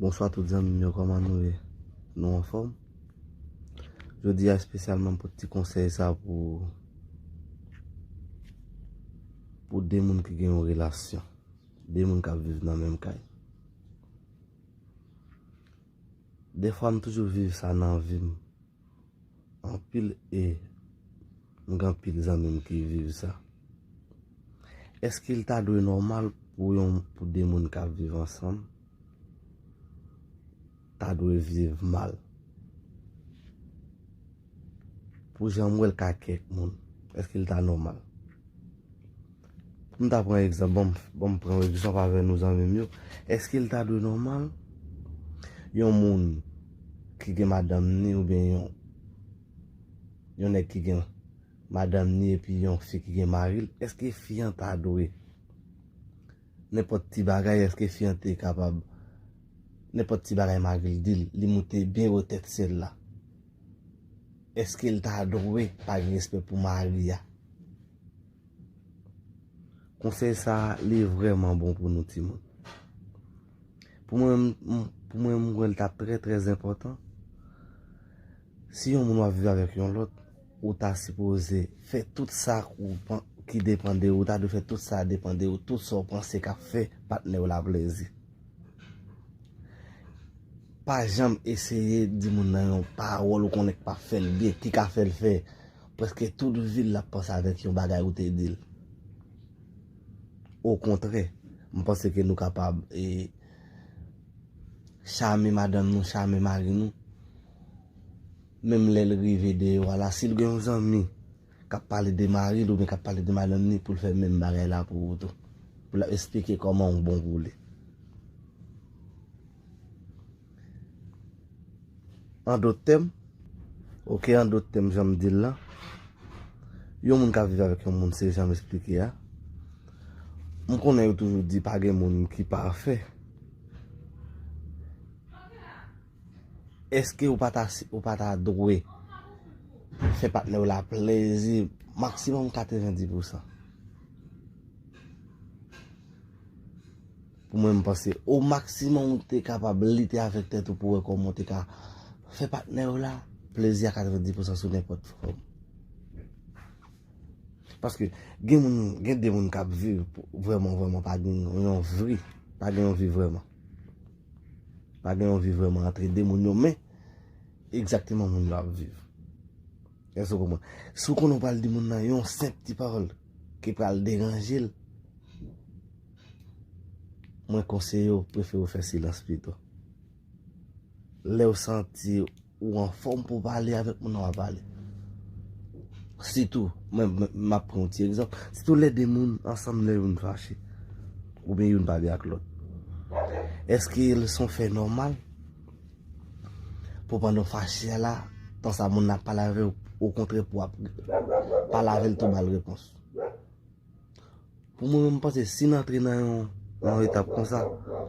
Bonswa tout zanmim yo koman nou ye nou anfom jodia espesyalman pou ti konsey sa pou pou de moun ki gen yon relasyon de moun kap viv nan menm kay. Defwa m toujou viv sa nan vim anpil e m gen anpil zanmim ki viv sa. Eske li ta dwe nòmal pou yon pou 2 moun kap viv ansanm ta dwe viv mal? Pou janm wèl ka kèk moun. Eske li ta nòmal. Poum ta pran egzanp. Banm pran yon egzanp avè nou zanmim yo. Eske li ta dwe nòmal. Yon moun. Ki gen madanm ni ou byen yon. Yon nèg ki gen. Madanm ni epi yon fi ki gen maril. Eske fi an ta dwe. Nenpòt ti bagay eske fi an te kapab. Nenpòt ti bagay maril dil. Li moute byen wotèt sèl la. Eske l ta dwe pa gen respè pou mari a? Konsèy sa a li vrèman bon pou nou timoun. Pou mwen, pou mwen m wè l ta trè trè enpòtan, si yon moun w ap viv avèk yon lòt, ou ta sipoze fè tout sa ki depan de ou, ou ta dwe fè tout sa depan de ou, tout sa ou panse k ap fè patnè w la plezi. Pa janm eseye di moun nan yon pawòl ou konnen k pap fè l byen, ki ka fè l fè prèske tout vi l l ap panse avèk yon bagay ou te di l. Okontrè, m panse ke nou kapab e chame madanm nou, chame mari nou, menm lè l rive deyò a la, si l gen yon zanmi. kap pale de maril oubyen kap pale de madanm ni poul fè menm bagay la pou ou tou pou lap esplike kòman ou bon pou li an dot tèm ok an dot tèm janm dil la yon moun kap viv avèk yon moun se janm esplike a m konnen yo toujou di pa gen moun ki pafè Eske ou pa ta ou pa ta dwe fè patnè'w la plezi maksimòm 90 pou san? Pou mwen m'panse o maksimòm ou te kapab lite avèk tèt ou pou wè kòman ou te ka fè patnè'w la plezi a 90 pou san sou nenpòt fòm. Paske gen moun, gen de moun k'ap viv vrèman vrèman pa gen yon vi, pa gen yon vi vrèman. Pa gen anvi vrèman antre 2 moun yo men egzakteman moun yo ap viv. Èske ou konprann? Si ou konnen ou pral di moun nan yon senp ti pawòl ki pral deranje l, mwen konseye ou prefere ou fè silans pito. Lè ou santi Ou anfòm pou w pale avèk moun nan w ap pale. Sitou, mwen m ap pran yon ti egzanp, sitou lè de moun ansanm lè youn fache oubyen youn pa byen ak lòt. Èske se yon fè nòmal pou pandan w fache a la, tan sa moun nan ap pale avè w, okontrè pou w ap pale avè l tou ba l repons? Pou mwen menm m panse si n antre nan yon yon etap konsa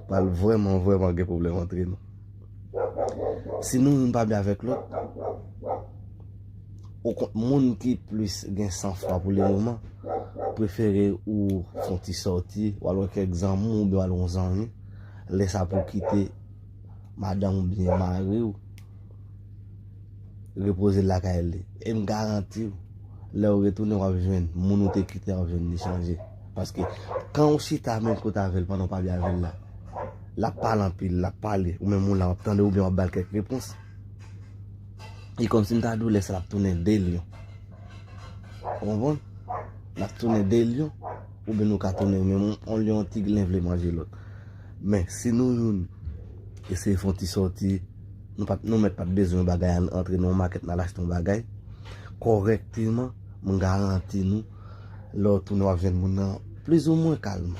pral vrèman vrèman gen pwoblèm antre nou. Si nou youn pa byen avèk lòt, ou konn moun ki plis gen san fwa pou li moman prefere ou fè yon ti sòti, ou al wè kèk zanmi w oubyen w al wè yon zanmi, lè sa pou w kite madanm oubyen mari w. Repoze l lakay li. E m garanti w, lè w retounen w ap jwenn moun ou te kite a w ap jwenn li chanje. Paske, kan ou chita menm kote avè l pandan w pa byen avè l la, l ap pale anpil, l ap pale, ou menm ou la w ap tande oubyen w ap ba l kèk repons. E kòmsi m ta di w lè sa l ap tounen 2 lyon. Ou konprann? L ap tounen 2 lyon oubyen nou ka tounen menm yon lyon yon ti glen vle manje lòt. Men, si nou youn eseye fè yon ti sòti. Nou pat nou mèt pat bezwen yon bagay an antre nan yon makèt nal achte yon bagay kòrèkteman m garanti nou lè w tounen wap jwenn moun nan plizoumwen kalm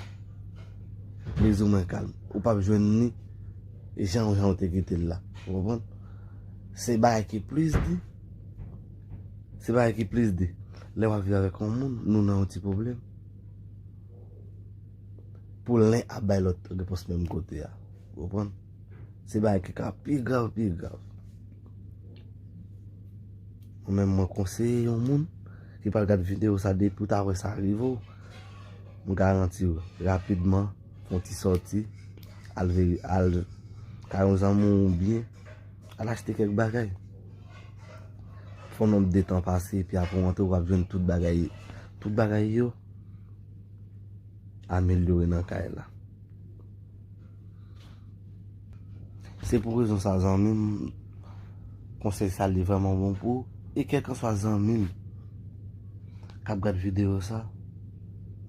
plizoumwen kalm ou pap jwenn ni jan w jan w te kite l la ou konprann se bagay ki plis di se bagay ki plis di lè wap viv avèk yon moun nou nan yon ti pwoblèm pou len ap bay lòt repons menm kote a ou konprann. Se bagay ki ka pi grav, pi grav. Mwen menm mwen konseye yon moun ki pral gad videyo sa depi ou ta wè sa rive ou, m garanti ou rapidman fè yon ti sòti al kay yon zanmi ou oubyen al achte kèk bagay. Fè yon nonm de tan pase epi apre ou rantre ou ap jwenn tout bagay, tout bagay yo amelyore nan kay la. Se pou rezon sa zanmim konsèy sa li vreman bon pou e kèlkanswa zanmim kap gad video sa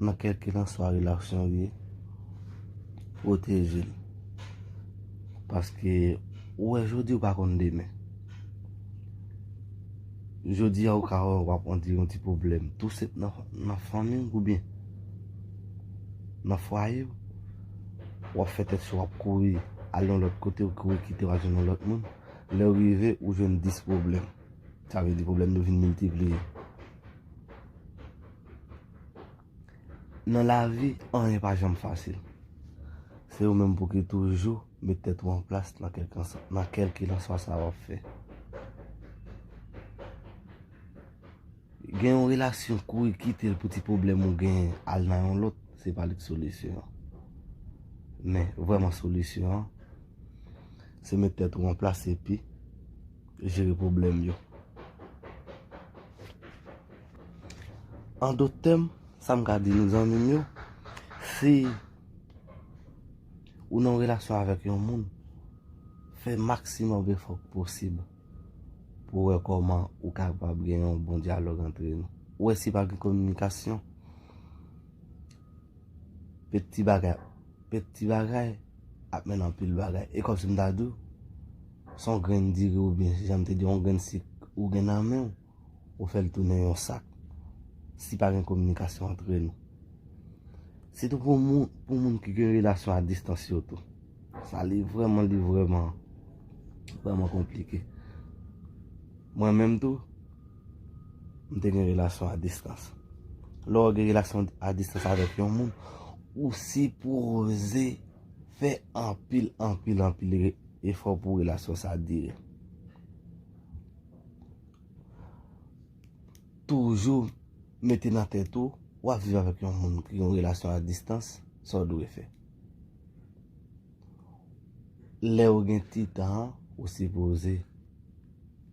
nan kèlkilanswa relasyon li ye pwotejel paske ou wè jodi ou pa konn demen jodi a ou ka wè wap antre yon ti pwoblèm tou se nan fanmiw oubyen nan fwayew. Wap fè tèt cho wap kouri al yon lòt kote ou kouri kite wal jwenn yon lòt moun lèw rive ou jwenn 10 pwoblèm sa vle di pwoblèm yo vin miltipliye nan lavi anyen pa janm fasil se ou menm pou ki toujou met tèt ou an plas nan kèlkilanswa sa wap fè. Gen yon relasyon kouri kitel pou ti pwoblèm ou gen al nan yon lòt se pa li k solisyon an men vrèman solisyon an se met tèt ou an plas epi jere pwoblèm yo an dot tèm sa m ka di nou zanmi m yo si ou nan yon relasyon avèk yon moun fè maksimòm efò k posib. pou wè kòman ou kapab gen yon bon dyalòg antre nou. Ou wè si pa gen kominikasyon, peti bagay, peti bagay ap mennen anpil bagay. E kòm si m ta di w, se yon grenn diri oubyen, jan m te di w, yon grenn sik ou gen nan men w. ou fè l tounen yon sak si pa gen kominikasyon antre nou. Sitou pou moun ki gen relasyon a distans yo tou. Sa li vreman, li vreman, vreman konplike. Mwen menm tou, m te gen relasyon a distans. Lè w gen relasyon a distans avèk yon moun, ou si pwose fè anpil, anpil, anpil efò pou relasyon sa dire. Toujou mete nan tèt ou, w ap viv avèk yon moun ki yon relasyon a distans, sa w dwe fè. Lè ou gen ti tan an, ou sipoze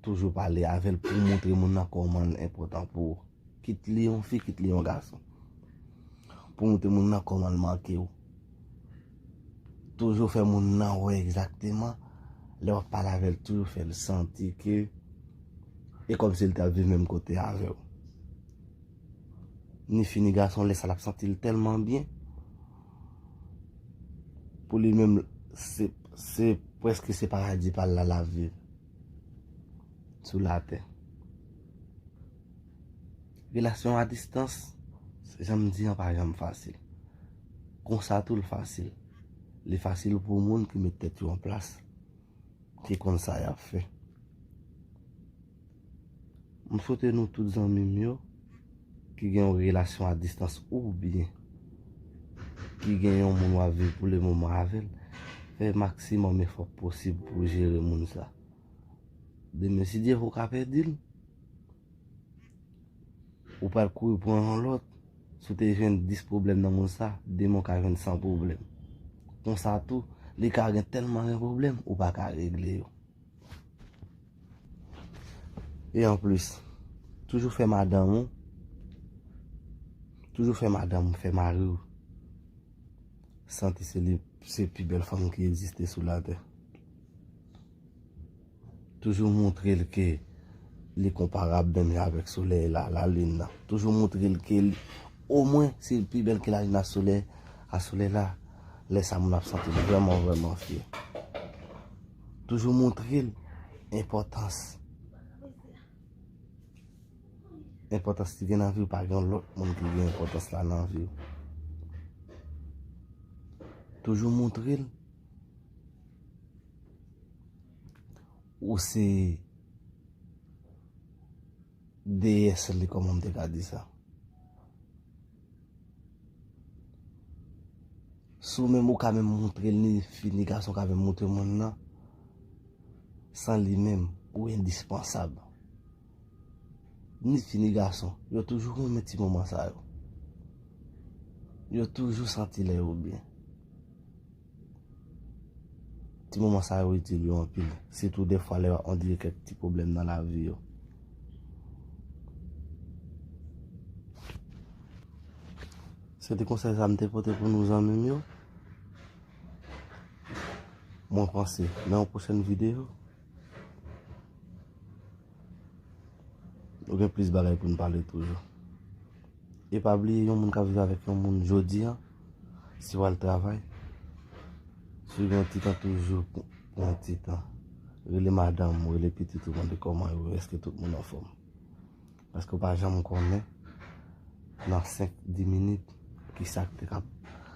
toujou pale avè l pou moutre moun nan kòman l enpòtan pou ou. Kit li yon fi, kit li yon gason. Pou moutre moun nan kòman l manke ou. Toujou fè moun nan wè egzakteman lè wap pale avèl toujou fèl santi ke e kòmsi li tap viv menm kote avèw. Ni fi ni gason lè sa lap santil tèlman byen pou li menm se preske se paradi pal la lap viv sou latè. Relasyon a distans, jan m di an pa janm fasil. Konsa tou l fasil. Li fasil pou moun ki met tèt yo an plas. Ki konn sa y ap fè. M swete nou tout zanmi m yo ki gen yon relasyon a distans oubyen ki gen yon moun w ap viv pou lemoman avè l, fè maksimòm efò posib pou jere moun sa a. Demen si Dye vle ou ka pèdi l. Ou pral kouri pran yon lòt. Si w te jwenn 10 pwoblèm nan monn sa, demen ou ka jwenn 100 pwoblèm. Konsa tou, li ka gen tèlman gen pwoblèm, ou pa ka regle yo. E anplis, toujou fè madanm ou, toujou fè madanm ou, fè mari ou, santi se li se pi bèl fanm ki egziste sou latè. Toujou moutre l ke li konparab menm jan avèk solèy la, lalin nan. Toujou moutre l ke li, omwen, se l pi bèl ke lalin a solèy, a solèy la. Lè sa moun ap santi l vrèman vrèman fyè. Toujou moutre l enpòtans. Enpòtans li gen nan vi w pa gen lòt moun ki gen enpòtans la nan vi w. Toujou moutre l. Ou se Déesse li kòman m te ka di sa. Si ou menm ou ka menm moutre l ni fi ni gason ka menm moutre moun nan, san li menm ou endispensab. Ni fi ni gason, yo toujou renmen ti moman sa yo. Yo toujou santi lè yo byen. Ti moman sa yo itil yo anpil. Sitou defwa lè yo ap andire kèk ti pwoblèm nan lavi yo. Se te konsèy sa m te pote pou nou zanmi m yo. Mwen panse nan yon pwochèn videyo. Nou gen plis bagay pou nou pale toujou. E pa bliye yon moun ka viv avèk yon moun jodi an, si w al travay, si w gen yon ti tan toujou, gen yon ti tan, rele madanm ou, rele pitit ou mande kòman yo, èske tout moun anfòm. Paske ou pa janm konnen nan 5, 10 minit ki sa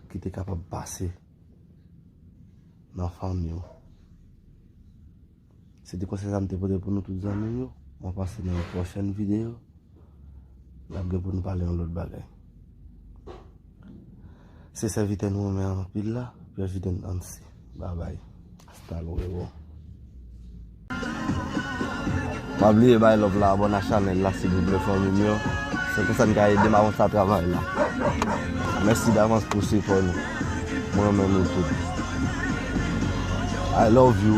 ki te kapab pase nan fanmi ou. Se te konsey sa m te pote pou nou tout zanmi m yo. Mwen panse nan yon pwochen video, n ap gen pou nou pale yon lot bagay. Se sèvitè nou renmen anpil la, President Anse. Babay. Hasta luego. Pa bliye bay love la abone a chanel la silvouplè fanmim yo se konsa n ka edem avanse a travay la mèsi davans pou sipò nou mwen renmen nou tout I love you.